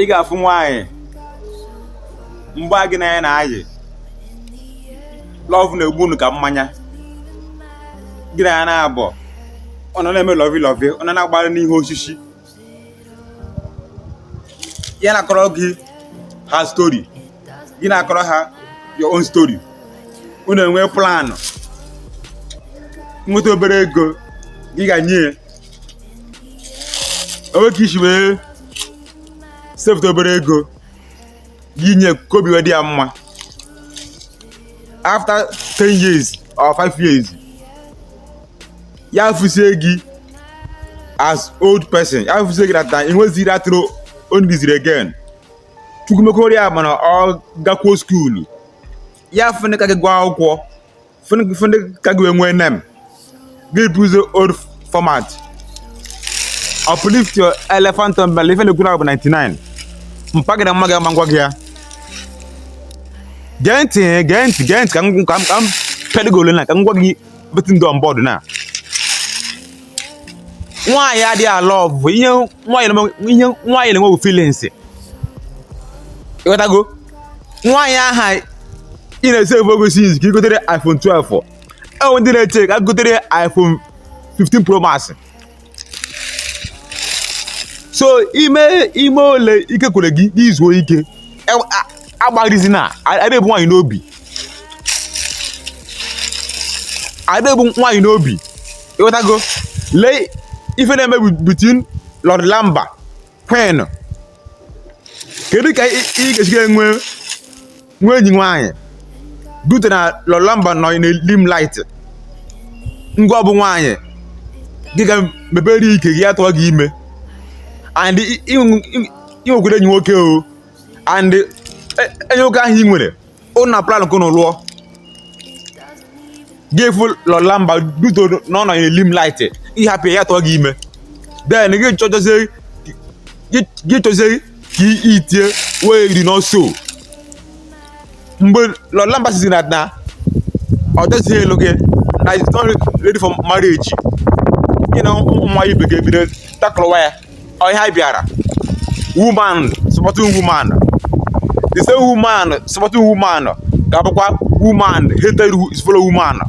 ị ga-afụ nwaanyị mgbe gị na ya na-ayị love na-egbu unu ka mmanya gị na ya naabọ ọ nọ na-eme lovey lovey ọ nọ na-agbara n'ihe osisi ya na-akọrọ gị her story gị na-akọrọ ha your own story unu enwee plan ị nweta obere ego ị ga-enye o nwee ka i si wee sefụta obere ego gị nye ka obi wee dị ya mma after 10 years or 5 years ya fụzie gị as old person ya fụzie gị that time ị nweziri atụrụ ọ nidịzịrọ again Chukwu mekwara ya mana ọ gakwuo school ya fụ onye ka gị gụọ akwụkwọ fụ onye ka gị nwee name gị bụzi old format uplift your elephant bell ife na-ekwu na bụ 99 mpagide mma gị ama ngwa gị ya gee ntị gee ntị gee ntị ka m ka m ka m pedịgo ole na ka m gwa gị betin dọ mbọdụ na nwaanyị adịghị alọvụ ihe nwaanyị na-enwe bụ feelings ịghọtago nwaanyị ahụ ị na-asevụ ego since ka ị gotere iPhone 12 e nwee ndị na-eche ka gotere iPhone 15 Pro Max so i mee ole ike kwere gị i zuo ike agbalịzina adịghị ebu nwaanyị n'obi ịghọtago lee ife na-eme between Lord Lamba Queen kedu ka ị ga-esi ga-enwe nwa enyi nwaanyị due to na Lord Lamba nọ na limelight ngwa ọ bụ nwaanyị gị ga mepere ike gị atụọ gị ime and ị nwekwara enyi nwoke o and enyi nwoke ahụ ị nwere unu na plan ka unu lụọ gị afụ Lord Lamba due to na ọ nọ na limelight ị hapụ ya tụọ gị ime then gị chọjọzie gị chọzie ka i tie wee iri n'ọsọ mgbe Lord Lamba sịzị na na ọ dịzịghị alụ gị na he's not ready for marriage gị na nwa ibe gị ebido takụlụwa ya ọ ihe a bịara woman supporting woman the same woman supporting woman ga-abụkwa woman hated his fellow woman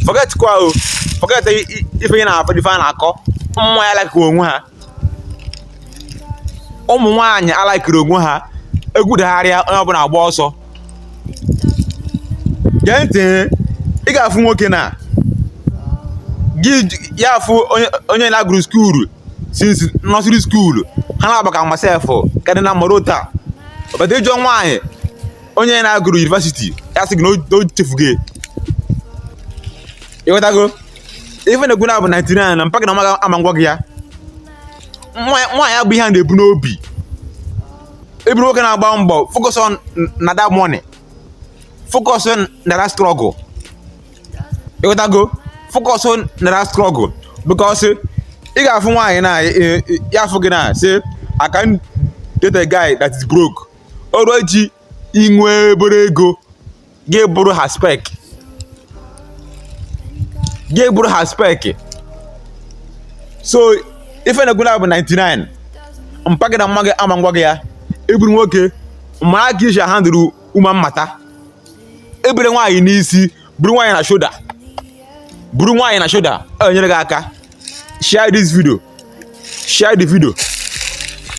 forget kwa o oh. forget ife ị na-afụ ife a na-akọ ụmụ nwaanyị alaịkịrọ onwe ha ụmụ nwaanyị alaịkịrọ onwe ha egwu dagharịa onye ọbụla agba ọsọ gee ntị ị ga-afụ nwoke na gị ya afụ onye onye na-agụrụ skuulu since nursery skuulu ha na-agba ka masef kadị na mmadụ taa ọbata ị jụọ nwaanyị onye na-agụrụ university ya sị gị na o- na o chefugo ịghọtago ife na-ekwu na bụ 99 mpa gị na mma gị ama agwa gị ya nwaanyị abụ ihe a na-ebu n'obi ị bụrụ nwoke na-agba mbọ focus on na that money focus on na that struggle ịghọtago focus on na that struggle because ị ga-afụ nwaanyị na ya afụ gị na say I can't date a guy that is broke o ruo ji inwe obere ego ga-abụrụ ha spec ga-abụrụ ha spec so ife na-ekwu na bụ 99 mpa gị na mma gị ama agwa gị ya ị bụrụ nwoke mara ka i si handle woman matter ebule nwaanyị n'isi buru nwaanyị na shoulder buru nwaanyị na shoulder enyere gị aka share this video share the video